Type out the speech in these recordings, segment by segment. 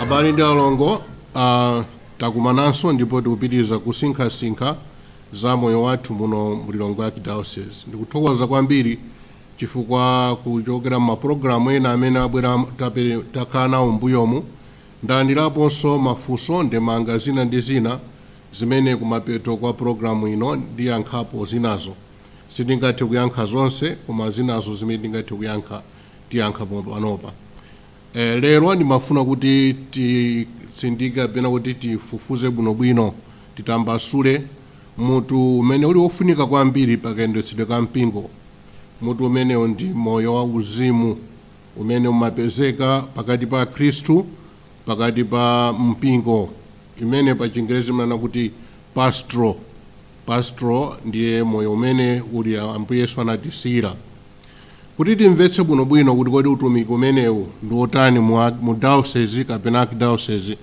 abale ndi alongo uh, takumananso ndipo tikupitiriza kusinkhasinkha za moyo wathu muno mu lilongwe archdiocese ndikuthokoza kwambiri chifukwa kuchokera mapulogalamu ena amene abwera takhala nawo mbuyomu ndalandiraponso mafunso ndemanga zina ndi zina zimene kumapeto kwa program ino ndiyankhapo zinazo sindingathe kuyankha zonse koma zinazo zimene ndingathe kuyankha tiyankha pompanopa lero ndimafuna kuti titsindike kapena kuti tifufuze bwinobwino titambasule mutu umene uli wofunika kwambiri pakayendetsedwe ka mpingo mutu umenewo ndi moyo wa uzimu umene umapezeka pakati pa akhristu pakati pa mpingo imene pa chingerezi imanena kuti pastoral pastoral ndiye moyo umene uli ambuye yesu anatisiyira kuti timvetse bwinobwino kuti kodi utumiki umenewu ndi wotani mu diocese kapena archdiocese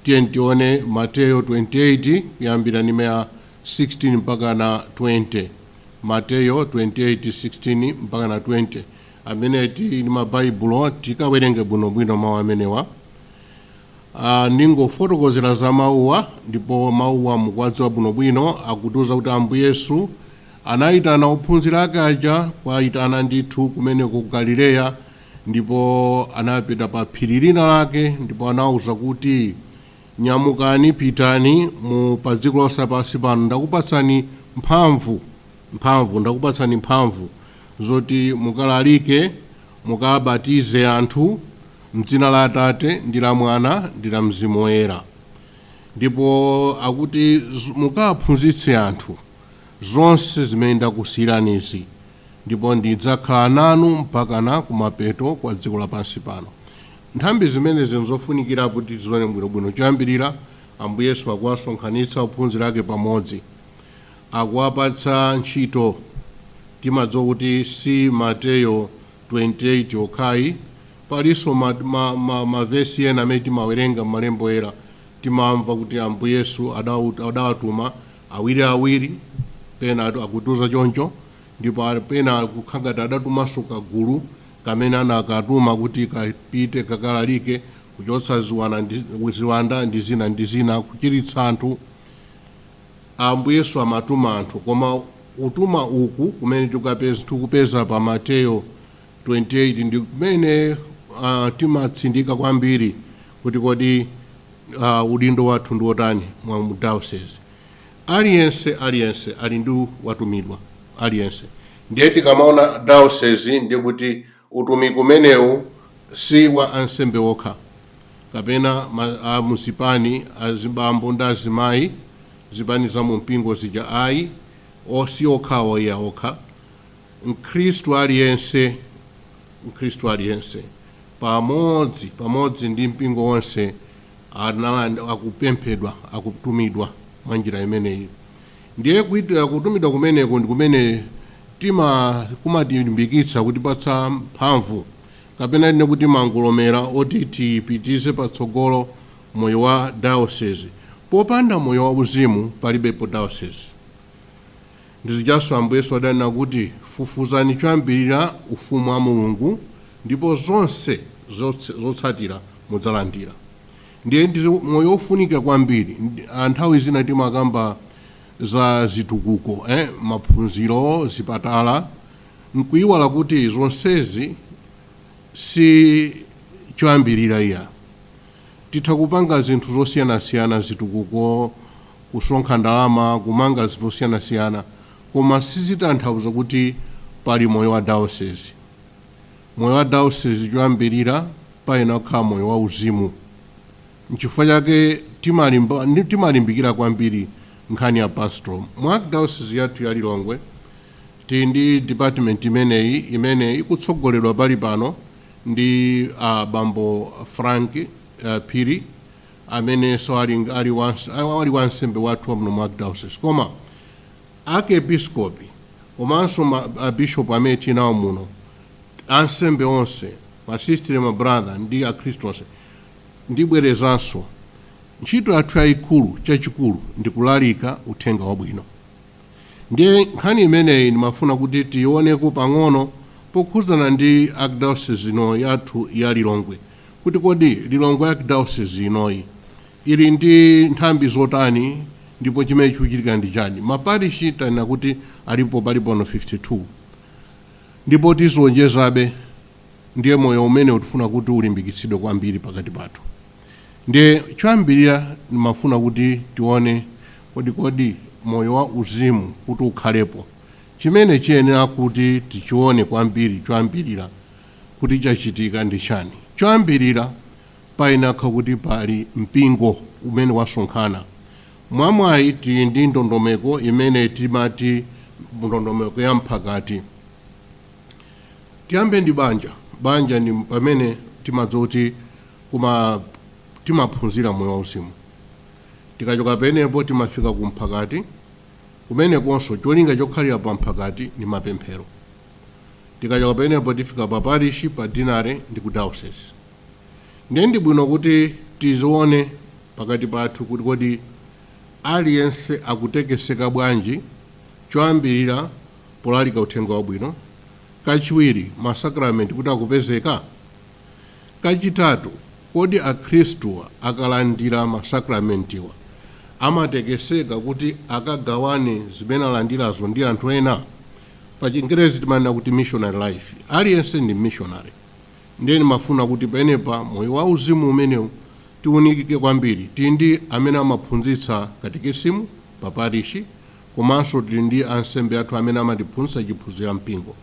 tiyeni tione mateyo 28 kuyambira ndime ya 16 mpaka na 20 mateyo 28:16 mpaka na 20 amene tili ndi ma Baibulo tikawerenge bwinobwino mau amenewa. A, ndingofotokozera za mauwa ndipo mauwa mukuwadziwa bwinobwino. Akutiuza kuti Ambuye Yesu anaitana ophunzira ake aja, kuaitana ndithu kumeneko ku Galileya ndipo anapita pa phiri lina lake ndipo anawauza kuti, Nyamukani, pitani mu pa dziko lonse lapansi pano, mphamvu, ndakupatsani mphamvu. zoti mukalalike, mukabatize anthu m'dzina la Atate, ndi la Mwana, ndi la Mzimu Woyera. Ndipo akuti, Mukaphunzitse anthu zonse zimene ndakusiyiranizi, ndipo ndidzakhala nanu mpakana kumapeto kwa dziko lapansi pano. Nthambi zimenezi nzofunikira kuti tizione bwinobwino. Choyambirira, Ambuye Yesu akuwasonkhanitsa ophunzira ake pamodzi. akuwapatsa ntchito. Timadziwa kuti si Mateyo 28 okhayi, palinso mavesi ena amene timawerenga m'malembo oyera timamva kuti Ambuye Yesu adawatuma awiri awiri, pena akutiuza choncho, ndipo pena kukhala ngati adatumanso kagulu kamene anakatuma kuti kapite kakalalike kuchotsa ziwanda ndi zina ndi zina, kuchiritsa anthu. Ambuye Yesu amatuma anthu koma utuma uku kumene tikupeza pa Mateyo 28 ndi kumene uh, timatsindika kwambiri kuti kodi uh, udindo wathu ndi wotani mu diocese aliyense aliyense ali ndi watumidwa aliyense ndiye tikamaona diocese ndi kuti Utumiki umenewu si wa ansembe okha, kapena ma, a mu zipani, azibambo ndi azimayi, zipani za mu mpingo zija ayi, o, si okhawo iya okha. Mkhristu aliyense pamodzi ndi mpingo wonse akupemphedwa, akutumidwa mwa njira imeneyi. Ndiye kutumidwa kumeneko ndi kumene kumatilimbikitsa, kutipatsa mphamvu, kapena tinene kuti mangolomera oti tipititse patsogolo moyo wa dayosezi. Popanda moyo wauzimu palibepo dayosezi. Ndi zijanso Ambuye Yesu adanena kuti, Fufuzani choyambirira Ufumu wa Mulungu ndipo zonse zotsatira mudzalandira. Ndiye ndi moyo wofunika kwambiri. A, nthawi zina timakamba za zitukuko, eh, maphunziro, zipatala, nkuiwala kuti zonsezi si choyambirira iya. Titha kupanga zinthu zosiyanasiyana, zitukuko, kusonkha ndalama, kumanga zinthu zosiyanasiyana, koma sizitanthauza kuti pali moyo wa diocese. Moyo wa Dayosizi choyambirira payenera kukhala moyo wauzimu. N'chifukwa chake timalimbikira kwambiri nkhani ya Pastoral. Mu Arkdayosizi yathu ya Lilongwe tili ndi department imeneyi imene ikutsogoledwa pali pano ndi a Bambo Frank Phiri amenenso ali, ali, ali wansembe wathu wa muno mu Arkdayosizi. Koma Arkepiskopi komanso a Bishop amene tili nawo muno, ansembe onse, ma Sistere, ma Brother ndi akhristu onse, ndibwerezanso, ntchito yathu yayikulu, chachikulu ndi kulalika Uthenga Wabwino. Ndiye nkhani imeneyi ndimafuna kuti tiyioneko pang'ono pokhudzana ndi Archdiocese ino yathu ya Lilongwe kuti kodi Lilongwe Archdiocese inoyi Ili ndi nthambi zotani ndipo chimene chikuchitika ndi chani? Ma parishi tanena kuti alipo pali pano 52 ndipo tizionjezabe ndiye moyo umenewu tifuna kuti ulimbikitsidwe kwambiri pakati pathu ndiye choyambirira ndimafuna kuti tione kodi moyo wa uzimu kuti ukhalepo chimene chiyenera kuti tichione kwambiri choyambirira kuti chachitika ndi chani? Choyambirira. payenera kukhala kuti pali mpingo umene wasonkhana. Mwamwayi tili ndi ndondomeko imene timati ndondomeko ya mphakati. Tiyambe ndi banja. Banja ndi pamene timadziwa kuti timaphunzira moyo wauzimu. Tikachoka penepo timafika ku mphakati, kumenekonso cholinga chokhalira pa mphakati ndi mapemphero. Tikachoka penepo tifika pa parishi, pa dinale ndi ku dayosezi. Ndiye ndi bwino kuti tizione pakati pathu kuti kodi aliyense akutekeseka bwanji, choyambirira, polalika uthenga wabwino, kachiwiri, masakramenti kuti akupezeka? Kachitatu, kodi akhristu akalandira masakramentiwa amatekeseka kuti akagawane zimene alandirazo ndi anthu ena? Pa chingerezi timanena kuti missionary life. Aliyense ndi mmishonale. Ndiye ndimafuna kuti penepa moyo wa uzimu umenewu tiunikike kwambiri. Tili ndi amene amaphunzitsa katikisimu pa parishi komanso tili ndi ansembe athu amene amatiphunzitsa chiphunzitso cha mpingo.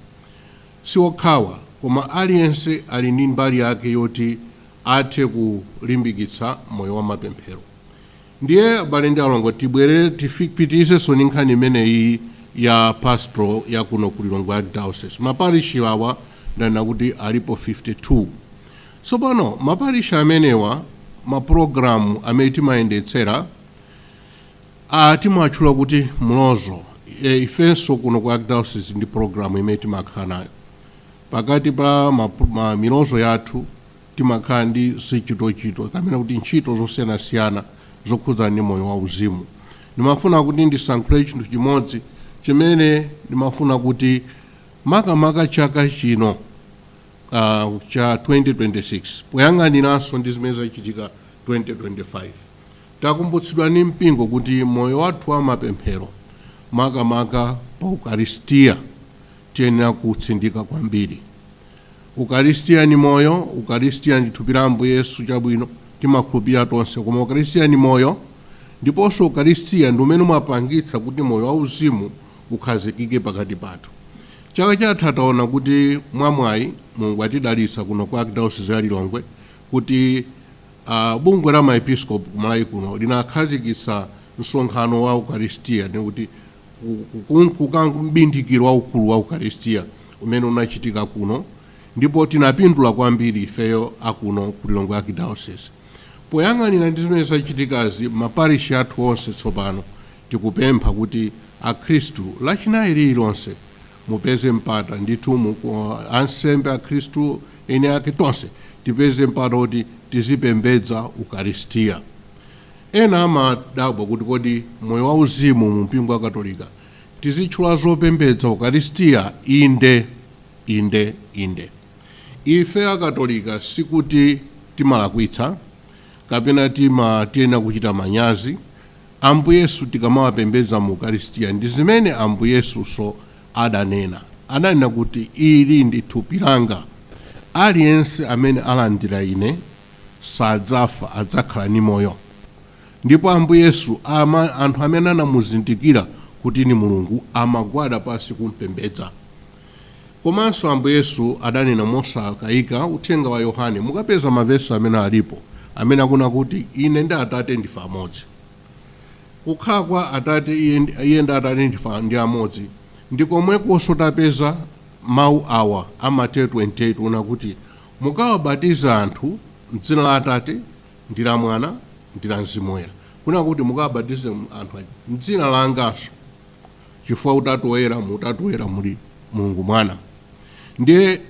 Si okhawa, koma aliyense ali ndi mbali yake yoti athe kulimbikitsa moyo wa mapemphero. Ndiye abale ndi alongo tibwerere tipitirizenso ndi nkhani imeneyi ya pastoral ya kuno ku Lilongwe archdiocese. Ma parish awa ndanena kuti alipo 52. Tsopano ma parish amenewa ma program amene timayendetsera timawatchula kuti mlozo. E, ifenso kuno ku archdiocese ndi program imene timakhala nayo pakati pa ma, ma milozo yathu Timakhala ndi zichitochito kapena kuti ntchito zosiyanasiyana zokhudza ndi moyo wa uzimu. Ndimafuna kuti ndisankhule chinthu chimodzi chimene ndimafuna kuti makamaka chaka chino cha 2026 poyang'aniranso ndi zimene zachitika 2025, takumbutsidwa ndi mpingo kuti moyo wathu wa mapemphero makamaka pa ukaristia Tiyenera kuutsindika kwambiri. Ukaristia ni moyo, Ukaristia ndi thupi la Ambuye Yesu chabwino, timakhulupirira tonse, koma Ukaristia ni moyo, ndiponso Ukaristia ndi umene umapangitsa kuti moyo wa uzimu ukhazikike pakati pathu. Chaka chatha taona kuti mwa mwayi Mulungu watidalitsa kuno ku Archdiocese ya Lilongwe kuti bungwe la maepiskopi ku Malawi kuno linakhazikitsa msonkhano wa Ukaristia, ndi kuti kukunkuka mbindikiro waukulu wa Ukaristia umene unachitika kuno ndipo tinapindula kwambiri ifeyo akuno ku Lilongwe Archdiocese. Poyanganira ndi zimene zachitikazi maparishi athu onse tsopano tikupempha kuti Akhristu lachinayi lililonse mupeze mpata ndithu mu- ku- ansembe Akhristu eni ake tonse tipeze mpata kuti tizipembedza Ukaristia. Ena amadabwa kuti kodi moyo wa uzimu mu mpingo wa Katolika tizitchula zopembedza, Ukaristia? Inde! Inde! Inde! Ife a Katolika sikuti timalakwitsa kapena tima tiyenera kuchita manyazi Ambuye Yesu tikamawapembedza mu Ukaristia. Ndi zimene Ambuye Yesunso adanena. Adanena kuti, Ili ndi thupi langa. Aliyense amene alandira ine sadzafa, adzakhala ni moyo. Ndipo Ambuye Yesu ama, anthu amene anamuzindikira kuti ni Mulungu amagwada pansi kum'pembedza. Komanso Ambuye Yesu adanena mosakayika uthenga wa Yohane, mukapeza mavesi amene alipo amene akunena kuti ine ndi Atate ndife amodzi. Kukhala kwa Atate iye, iye ndi Atate ndife ndi amodzi ndi komwekonso tapeza mau awa a Mateyo 28 onena kuti Mukawabatize anthu m'dzina la Atate, ndi la Mwana, ndi la Mzimu Woyera. Kunena kuti mukawabatize anthu aja m'dzina langanso, chifukwa Utatu Woyera, mu Utatu Woyera muli Mulungu Mwana. Ndiye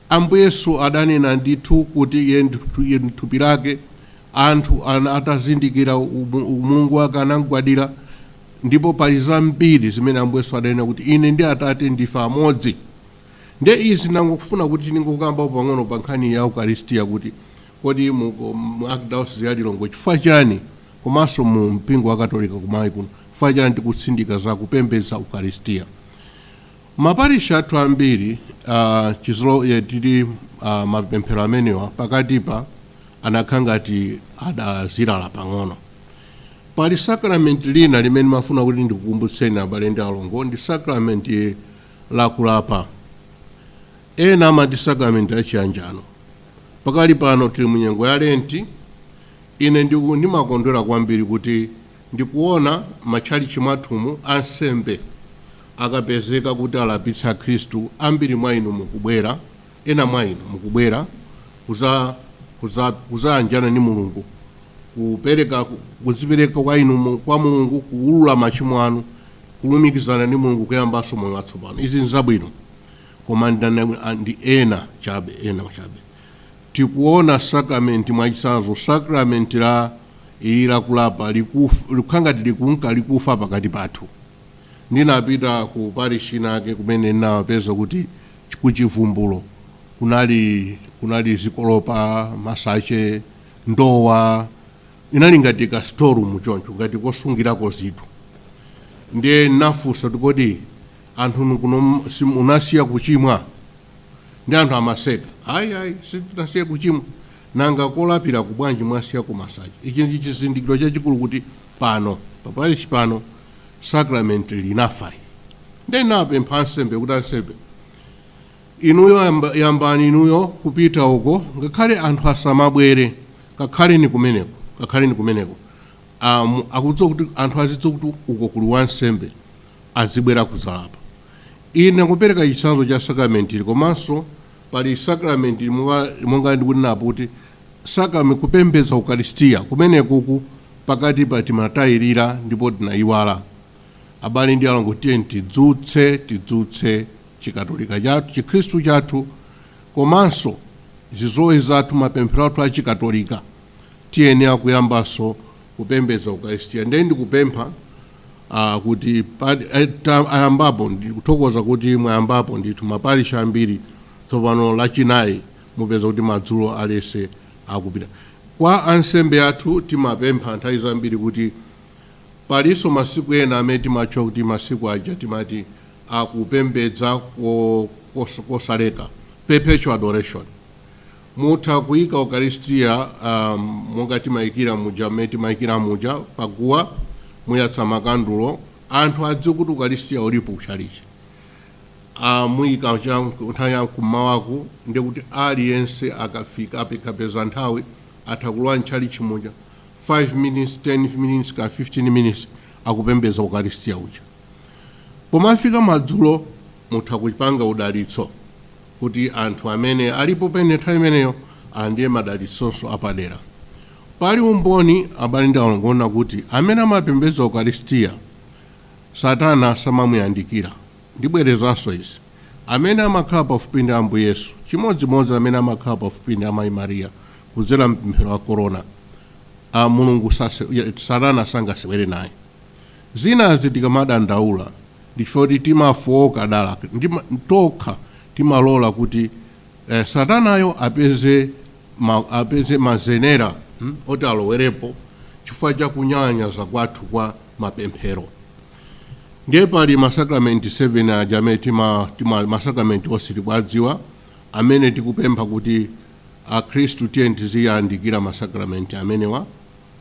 Ambuye Yesu adanena ndithu kuti iye ndi thu- iye ndi thupi lake, anthu ana- atazindikira umu- umulungu wake anamgwadira, ndipo pali zambiri zimene Ambuye Yesu adanena kuti ine ndi Atate ndife amodzi. Ndiye izi ndangofuna kuti ndingokambapo pang'ono pa nkhani ya Ukaristia kuti kodi mu, mu Archdiocese ya Lilongwe chifukwa chani komanso mu mpingo wa Katolika kumaiko kuno chifukwa chani tikutsindika za kupembedza Ukaristia. Maparishi athu ambiri uh, chizolowezi tili uh, mapemphero amenewa pakatipa anakhala ngati adazilala pang'ono. Pali sakramenti lina limene ndimafuna kuti ndikukumbutseni abale ndi alongo ndi sakramenti la kulapa. Ena amati sakramenti la chiyanjano. Pakali pano tili mu nyengo ya Lenti. Ine ndiku ndimakondwera kwambiri kuti ndikuona matchalitchi mwathumu ansembe akapezeka kuti alapitse akhristu ambiri mwa inu mukubwera. Ena mwa inu mukubwera kudzayanjana ndi Mulungu, kupereka, kudzipereka kwa inu, kwa Mulungu, kuwulula machimo anu, kulumikizana ndi Mulungu, kuyambanso moyo watsopano. Izi nzabwino, koma ndi ena chabe, ena chabe. Tikuona sakramenti, mwachitsanzo, sakramenti la ili lakulapa, likukhala ngati likunka likufa pakati pathu. ndinapita ku parish inayake kumene ndinawapeza kuti ch- ku chivumbulo kunali kunali zikolopa masache ndowa inali ngati ka storeroom choncho ngati kosungirako zinthu ndiye ndinafunsa kuti kodi anthu nu kuno m- si- munasiya kuchimwa ndiye anthu amaseka ayi ayi sitinasiya kuchimwa nanga kolapira ku bwanji mwasiya kuli masache ichi ndi chizindikiro chachikulu kuti pano paparishi pano sacrament ili linafa nde ndinapempha ansembe kuti ansembe inuyo yamba, yambani inuyo kupita uko ngakhale anthu asamabwere kakhaleni kumeneko kakhaleni kumeneko um, akudziwa kuti anthu azidziwa kuti uko kuli ansembe azibwera kudzalapa ine ndikupereka chitsanzo cha sacrament ili komanso pali sacrament ili monga- monga ndikunenera kuti Sacrament kupembedza ukaristia kumenekuku pakatipa timatayilira ndipo tinayiwala. Abale ndi alongo tiyeni tidzutse tidzutse chikatolika chathu chikhristu chathu komanso zizolowezi zathu mapemphero athu a chikatolika tiyenera kuyambanso kupembedza ukaristia ndiye ndikupempha ah kuti ayambapo ndikuthokoza kuti mwayambapo ndithu maparish ambiri tsopano lachinayi Mupeza kuti madzulo onse akupita kwa ansembe athu timapempha nthawi zambiri kuti palinso masiku ena amene timatchula kuti masiku aja timati akupembedza kosaleka, perpetual adoration. Mutha kuika Ukalistia monga timaikira muja mmene timaikira muja paguwa, muyatsa makandulo, anthu adziwe kuti Ukalistia ulipo kutchalitchi. a muyika cha nthawi ya kummawaku ndiye kuti aliyense akafika akapeza nthawi atha kulowa mtchalitchi muja 5 minutes 10 minutes ka 15 minutes akupembedza ukaristiya uja pomafika madzulo mutha kupanga udalitso kuti anthu amene alipo pa nthawi imeneyo alandire madalitsonso apadera pali umboni abale ndi alongo onena kuti amene amapembedza ukaristiya Satana samamuyandikira. Ndibwerezanso izi. Amene amakhala pafupi ndi Ambuye Yesu, chimodzimodzi amene amakhala pafupi ndi Amayi Maria kudzera m'pemphero la Korona, a, Mulungu sase, Satana sangasewere naye. Zinazi tikamadandaula ndi chifukwa kuti timafooka dala tokha, timalola kuti eh, Satanayo apeze, ma, apeze mazenera hm, oti alowerepo chifukwa cha kunyalanyaza kwathu kwa mapemphero ndiye pali masakramenti 7 aja amene tima, tima masakramenti onse tikuwadziwa amene tikupempha kuti akhristu tiyeni tiziyandikira masakramenti amenewa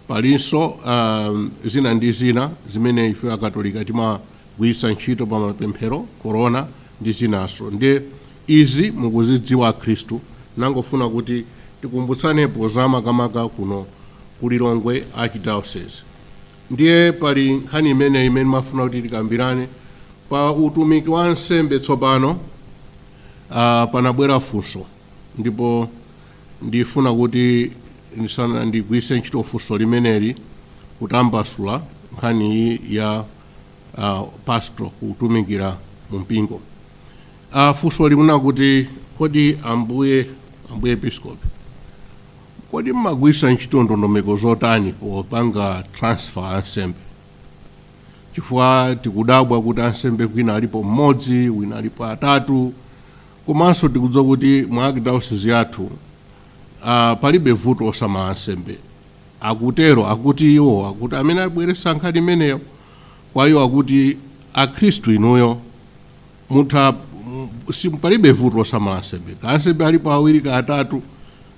palinso um, zina ndi zina zimene ife akatolika timagwiritsa ntchito pa mapemphero korona ndi zinanso ndiye izi mukuzidziwa akhristu ndangofuna kuti tikumbutsanepo za makamaka kuno ku lilongwe archdiocese Ndiye pali nkhani imeneyi imene ndimafuna kuti tikambirane pa utumiki wa ansembe tsopano. A, panabwera funso ndipo ndifuna kuti ndisana ndigwiritse ntchito funso limeneli kutambasula nkhani iyi ya a, pastoral kutumikira mu mpingo. A, funso limanena kuti kodi ambuye ambuye episkopi Kodi mumagwiritsa ntchito ndondomeko zotani popanga transfer ansembe? Chifukwa tikudabwa kuti ansembe kwina alipo mmodzi, kwina alipo atatu, komanso tikudziwa kuti mu Archdiocese yathu ah, palibe vuto losamala ansembe. Akutero, akuti iwo, akuti amene abweretsa nkhani imeneyo kwa iwo akuti Akhristu inuyo mutha m- si- palibe vuto losamala ansembe kaya ansembe alipo awiri kaya atatu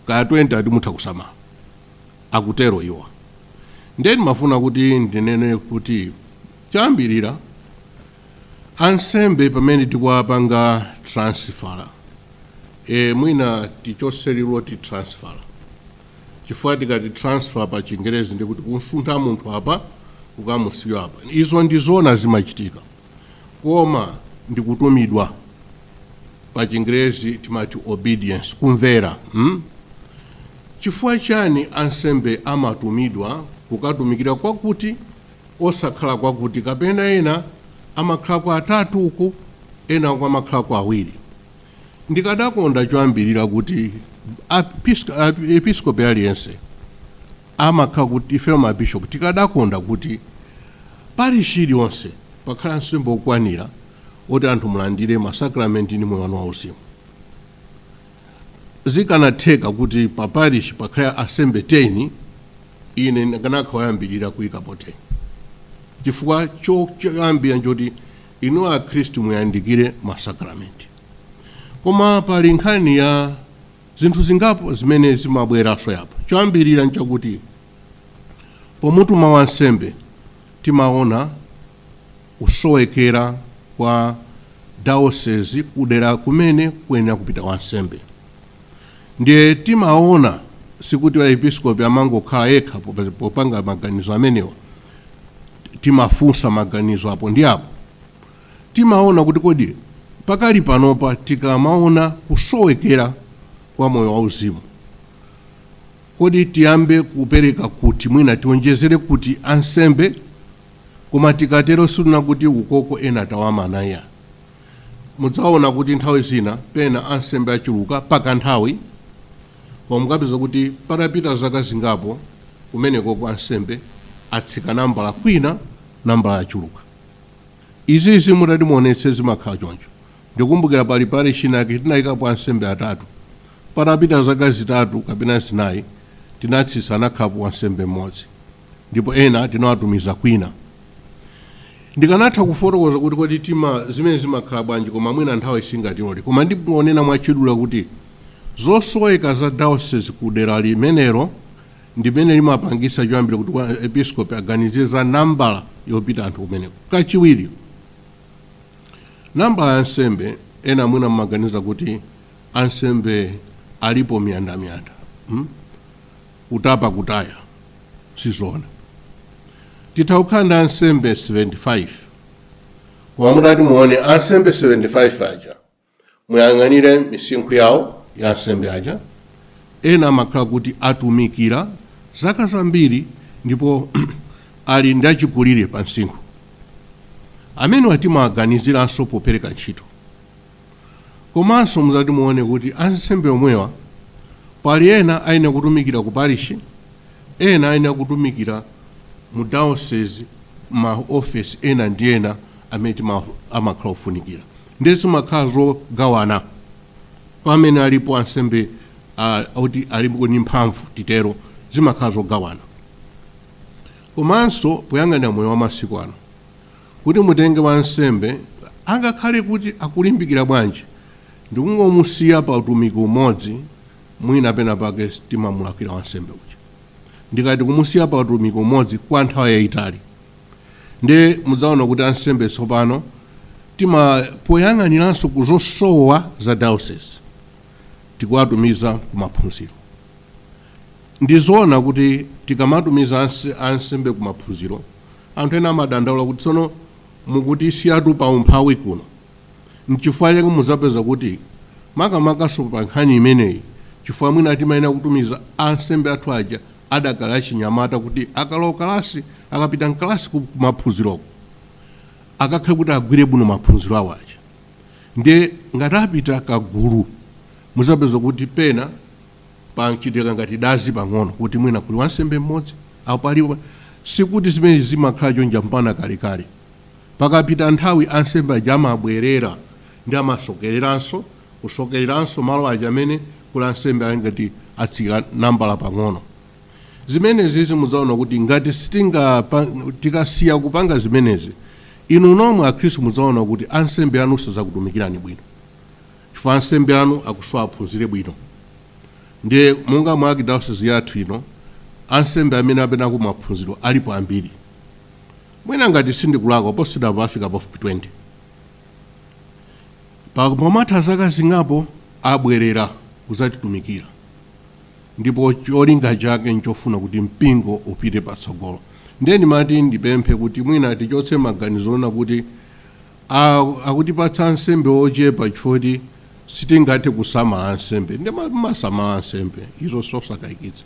kaya 20 ati mutha kusamala akutero iwo ndiye ndimafuna kuti ndinene kuti choyambirira ansembe pamene tikuwapanga transfer e, mwina tichotse liwu loti transfer chifukwa tikati transfer pa chingerezi ndikuti kumsuntha munthu apa kukamusiya apa izo ndizona zimachitika Koma ndi kutumidwa. Pa chingerezi timati obedience, kumvera. mm? Chifukwa chani ansembe amatumidwa kukatumikira kwakuti osakhala kwakuti kapena ena amakhalako atatu uku ena uku amakhalako awiri? Ndikadakonda choyambirira kuti apisk- ap- episkopi aliyense amakhala kuti ifeyo ma Bishop tikadakonda kuti Parish iliyonse pakhale ansembe okwanira oti anthu mulandire ma Sacrament ndi moyo wanu wauzimu. Zikanatheka kuti pa Parish pakhale ansembe 10 ine ndikanakhala woyambirira kuyikapo 10 chifukwa choyambirira nchoti inu Akhristu muyandikire ma Sacrament. Koma pali nkhani ya zinthu zingapo zimene zimabweranso apo. Choyambirira nchakuti pomutuma wansembe timaona kusowekera kwa dayosezi kudera kumene kuyenera kupita wansembe ndiye timaona sikuti aepiskopi amangokhala yekha popa- popanga maganizo amenewa timafunsa maganizo apo ndi apo timaona kuti kodi pakali panopa tikamaona kusowekera kwa moyo wa uzimu kodi tiyambe kupereka kuti mwina tionjezere kuti ansembe koma tikatero sindinena kuti ukoko ena tawamana ayi mudzaona kuti nthawi zina pena ansembe achuluka pakanthawi koma mukapeza kuti patapita zaka zingapo kumenekoko ansembe atsika nambala kwina nambala yachuluka Izizi mutati muonetse zimakhala choncho. Ndikumbukira pali parish inake tinayikapo ansembe atatu. Patapita zaka zitatu kapena zinayi tinatsitsa anakhalapo wansembe mmodzi ndipo ena tinawatumiza kwina. Ndikanatha kufotokoza kuti kodi tima zimene zimakhala bwanji koma mwina nthawi singatilore koma ndingonena mwachidule kuti zosoweka za diocese ku dera limenelo ndimene limapangisa choyambira kuti aepiskopi aganize za nambala yopita anthu kumeneko kachiwiri nambala ya ansembe ena mwina mmaganiza kuti ansembe alipo miyandamiyanda hmm? kutapa kutaya sizona titha kukhala ndi ansembe 75 koma mutati muone ansembe 75 aja muyang'anire misinkhu yawo ya ansembe aja ena amakhala kuti atumikira zaka zambiri ndipo ali ndi achikulire pa msinkhu amenewa timawaganiziranso popereka ntchito komanso muzati muone kuti ansembe omwewa pali ena ayenera kutumikira ku parishi ena ayenera kutumikira mu diocese ma office ena ndi ena amene tima- amakhala ofunikira Ndiye zimakhala zogawana kwa amene alipo ansembe a, oti alipo ndi mphamvu titero, zimakhala zogawana. Komanso poyang'anira moyo wa masiku ano, kuti mutenge wansembe angakhale kuti akulimbikira bwanji, ndikungomusiya pa utumiki umodzi, mwina pena pake timamulakwira wansembe uja ndikati kumusiya pa utumiki umodzi kwa nthawi yayitali. ndi mudzaona kuti ansembe tsopano tima poyang'aniranso ku zosowa za diocese tikuwatumiza ku maphunziro ndizoona kuti tikamatumiza anse- ansembe ku maphunziro anthu ena amadandaula kuti tsono mukuti siyatu pa umphawi kuno mchifukwa chake mudzapeza kuti makamakaso pa nkhani imeneyi chifukwa mwina timayenera kutumiza ansembe athu aja adakali achinyamata kuti akalowa kalasi akapita mkalasi kumaphunziroko akakhale kuti agwire bwino maphunziro awo aja ndiye ngati apita kagulu muzapeza kuti pena panchitika ngati dazi pang'ono kuti mwina kuli wansembe mmodzi pa parish sikuti zimene zimakhala chonja mpaka kalekale pakapita nthawi ansembe aja amabwerera ndi amasokereranso kusokereranso malo aja amene kuli ansembe ali ngati atsika nambala pang'ono zimenezi mudzaona kuti ngati tikasiya kupanga zimenezi inu nomwe akhristu mudzaona kuti ansembe anu sazakutumikirani bwino chifukwa ansembe anu akusowa aphunzire bwino ndiye monga mwa archdiocese yathu ino ansembe amene apita ku maphunziro alipo ambiri mwina ngati sindikulakwa posachedwapa afika pafupi 20 Pakatha zaka zingapo abwerera kudzatitumikira ndipo cholinga chake n'chofuna kuti mpingo upite patsogolo. Ndiye ndimati ndipemphe kuti mwina tichotse maganizo onena kuti, Ah, akutipatsa ansembe ochepa chifukwa choti sitingathe kusamala ansembe. Mumasamala ansembe, izo n'zosakayikitsa.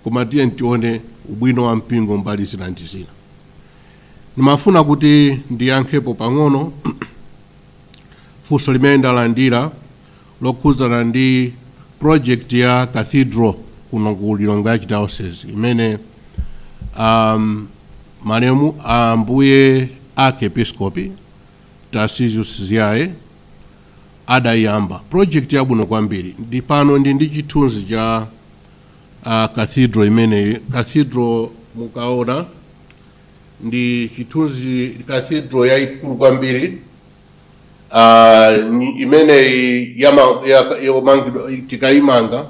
Koma tiyeni tione ubwino wa mpingo mbali zina ndi zina. Ndimafuna kuti ndiyankhepo pang'ono. funso limene ndalandira lokhudzana ndi project ya cathedral kuno ku lilongwe archdiocese imene um, malemu ambuye arkiepiskopi tarcisius ziyaye adayamba project yabwino kwambiri ndi pano ndi ndi chithunzi cha uh, cathedral imeneyi cathedral mukaona Ndi chithunzi cathedral yaikulu kwambiri ah, ni- imeneyi yama- ya- yomangidwa tikaimanga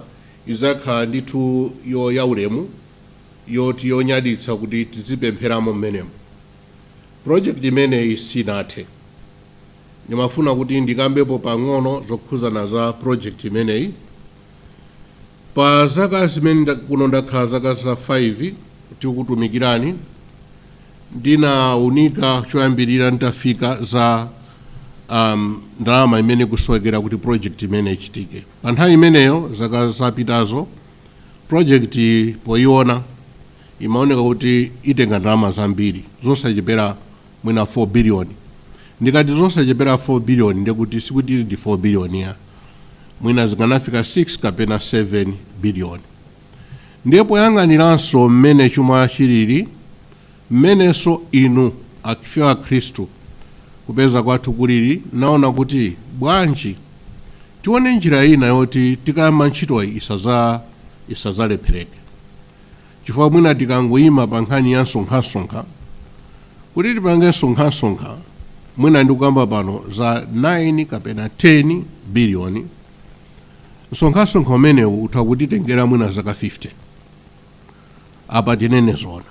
idzakhala ndithu yo yaulemu yoti yonyaditsa kuti tizipempheramo mmenemo project imeneyi sinathe ndimafuna kuti ndikambepo pang'ono zokhuzana za project imeneyi Pa zaka zimene kuno ndakhala zaka za 5 tikukutumikirani, ndinaunika choyambirira nditafika za um, ndalama imene ikusowekera kuti project imene ichitike. Pa nthawi imeneyo zaka zapitazo project poiona imaoneka kuti itenga ndalama zambiri zosachepera mwina 4 billion ndikati zosachepera 4 billion ndiye kuti sikuti ndi 4 billion-yo mwina zikanafika 6 kapena 7 billion ndiye poyang'aniranso mmene chuma chilili mmenenso inu akhristu kupeza kwathu kulili naona kuti bwanji tione njira ina yoti tikayamba ntchitoyi isaza isazalephereke Chifukwa mwina tikangoima pa nkhani ya nsonkhansonkha, kuti tipange nsonkhansonkha mwina ndikukamba pano za 9 kapena 10 biliyoni, nsonkhansonkha umenewu utha kutitengera mwina zaka 50. Apa tinene zoona,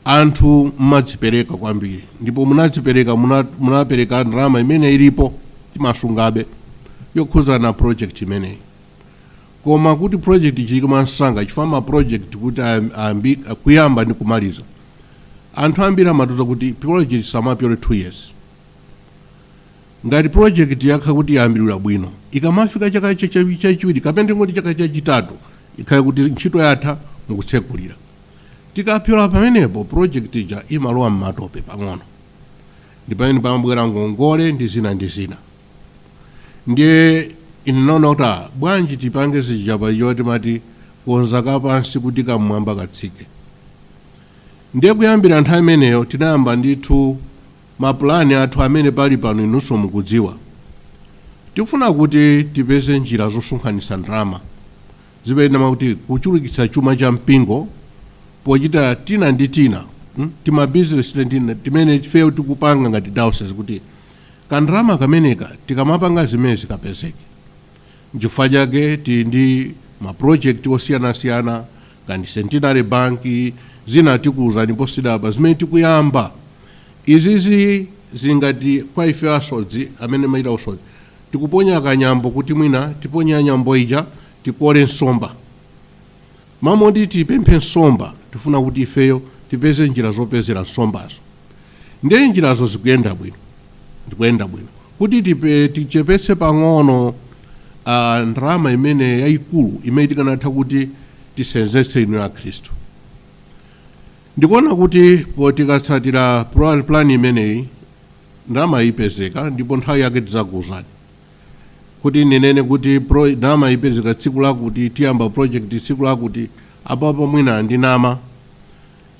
anthu mumadzipereka kwambiri ndipo munadzipereka, munapereka ndalama imene ilipo, timasungabe, yokhudzana ndi project imeneyi. Koma kuti project ichitike mwamsanga chifukwa ma project kuti ayambi kuyamba ndi kumaliza anthu ambiri amatiuza kuti project isamapyole 2 years ngati project yakhala kuti yayambiridwa bwino ikamafika chaka chachiwiri kapena tingoti chaka chachitatu ikhale kuti ntchito yatha mukutsekulira tikapyola pamenepo project ija imalowa m'matope pang'ono ndi pamene pamabwera ngongole ndi zina ndi zina ndiye ine naona kuti ah, bwanji tipange zija paja timati konza kapansi kuti kam'mwamba katsike ndiye kuyambira nthawi imeneyo tinayamba ndithu mapulani athu amene pali pano inunso mukudziwa tikufuna kuti tipeze njira zosonkhanitsa ndalama zimene makuti kuchulukitsa chuma cha mpingo pochita tina ndi tina mm, timabizinesi tina ndi tina timene ifeyo tikupanga ngati diocese kuti Ka ndalama kameneka tikamapanga zimenezi kapezeke. Nchifukwa chake tili ndi ma project osiyanasiyana ngati Centenary Bank zina tikuuzani posachedwapa zimene tikuyamba. Izizi zili ngati kwa ife asodzi amene timachita usodzi tikuponya ka nyambo kuti mwina tiponye nyambo ija tikole nsomba. M'malo moti tipemphe nsomba, tifuna kuti ifeyo tipeze njira zopezera nsombazo. Ndiye njirazo zikuyenda bwino, zikuyenda bwino. Kuti tichepetse pang'ono ndalama imene yaikulu imene tikanatha kuti tisenzetse inuyo Akhristu, ndikuona kuti poti tikatsatira pulani imeneyi, ndalamayi ipezeka ndipo nthawi yake tidzakuuzani. kuti ndinene kuti pro, ndalama ipezeka tsiku lakuti tiyamba project tsiku lakuti apapo mwina ndinama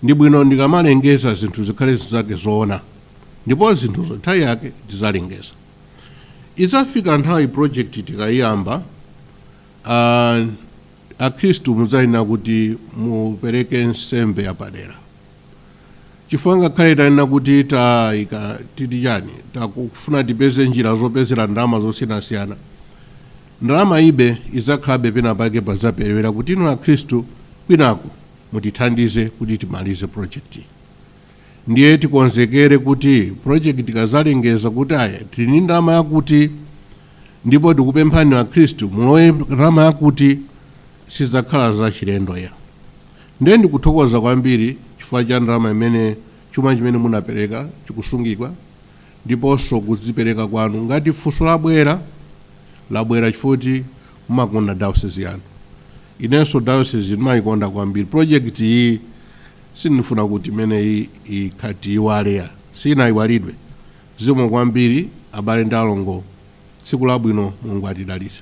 ndi bwino ndikamalengeza zinthu zikhale zinthu zake zoona ndipo zinthuzo nthawi yake tizalengeza idzafika nthawi project tikayiyamba uh, akhristu mudzayenera kuti mupereke nsembe yapadera chifukwa ngakhale tanena kuti taika titi chani takufuna tipeze njira zopezera ndalama zosiyanasiyana ndalamayibe idzakhalabe pena pake padzaperewera kuti inu akhristu kwinako mutithandize kuti timalize project ndiye tikonzekere kuti project ikazalengeza kuti aya tili ndi ndalama yakuti ndipo tikupemphani akhristu mulowe ndalama yakuti sidzakhala zachilendo iyayi Nde ndikuthokoza kwambiri chifukwa cha ndalama imene chuma chimene munapereka chikusungikwa ndiponso kudzipereka kwanu. Ngati funso labwera, labwera chifukwa choti mumakonda diocese yanu. Inenso diocese ndimayikonda kwambiri. Project iyi sindifuna kuti imeneyi ikhale tiyiwale iyayi. Sinayiwalidwe. Zikomo kwambiri abale ndi alongo. Tsiku labwino. Mulungu atidalitse.